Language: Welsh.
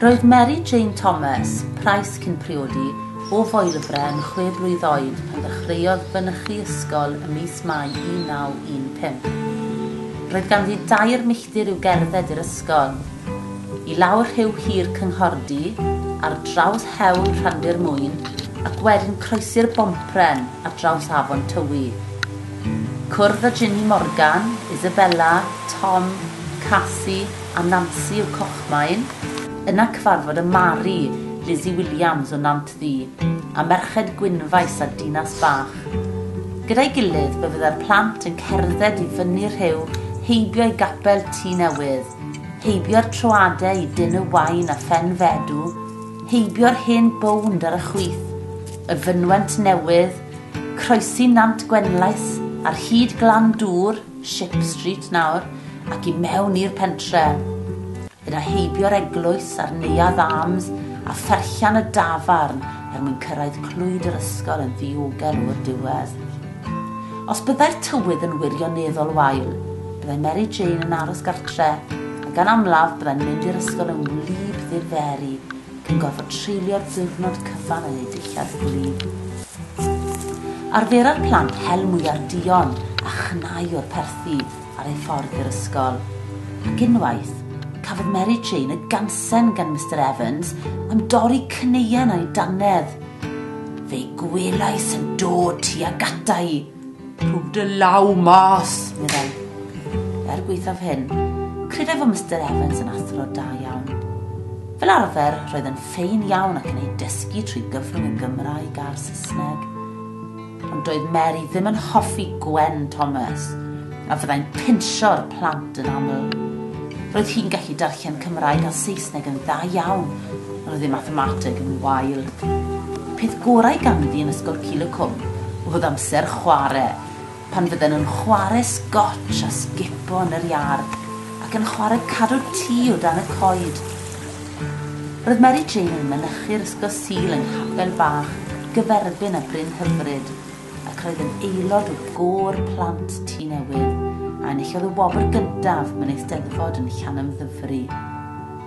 Roedd Mary Jane Thomas, Price cyn priodi, o Foelfre yn chwe blwydd oed pan ddechreuodd fynychu ysgol ym mis Mai 1915. Roedd ganddi dair milltir i'w gerdded i'r ysgol, i lawr rhiw hir Cynghordy, ar draws hewl Rhandir Mwyn, ac wedyn croesi'r Bompren ar draws afon Tywi. Cwrdd â Ginny Morgan, Isabella, Tom, Casi a Nansi o Cochmaen. Yna cyfarfod â Mari, Lizzy Williams o Nant Ddu, a Merched Gwynfaes a Dinas Bach. Gyda'i gilydd fe fydda'r plant yn cerdded i fyny rhiw heibio i Gapel Tŷ Newydd, heibio'r troadau i Dyn y Wain a Phen Fedw, heibio'r hen bownd ar y chwith, y fynwent newydd, Croesi Nant Gwenlais ar hyd Glan Dŵr, Ship Street nawr, ac i mewn i'r pentre'. Yna heibio'r eglwys a'r Neuadd Arms a pherllan y dafarn er mwyn cyrraedd Clwyd yr Ysgol yn ddiogel o'r diwedd. Os byddai'r tywydd yn wirioneddol wael, byddai Mary Jane yn aros gartre', a gan amlaf byddai'n mynd i'r ysgol yn wlyb ddirferi, yn gorfod treulio diwrnod cyfan yn eu dillad gwlyb. Arfera'r plant hel mwyar duon a chnau o'r perthi ar eu ffordd i'r ysgol. Ac unwaith, cafodd Mary Jane y gansen gan Mister Evans am dorri cneuen a'i dannedd. Fe'i gwelais yn dod tuag ata i, Rhwg dy law mas, meddai. Er gweithaf hyn, credai fod Mr Evans yn athro da iawn. Fel arfer, roedd yn ffein iawn ac yn ei dysgu trwy gyfrwng y Gymraeg a'r Saesneg. Ond doedd Mary ddim yn hoffi Gwen Thomas, a fyddai'n pinsio'r plant yn aml. Roedd hi'n gallu darllen Cymraeg a Saesneg yn dda iawn, Roedd ei mathemateg yn wael. Y peth gorau ganddi yn ysgol Cul y Cwm oedd amser chwarae, pan fydden nhw'n chwarae sgotsh a sgipo yn yr iard ac yn chwarae cadw tŷ o dan y coed. Roedd Mary Jane yn mynychu'r Ysgol Sul yng nghapel bach gyferbyn â Bryn Hyfryd ac roedd yn aelod o gôr plant Tŷ Newydd a enillodd y wobr gyntaf mewn Eisteddfod yn Llanymddyfri.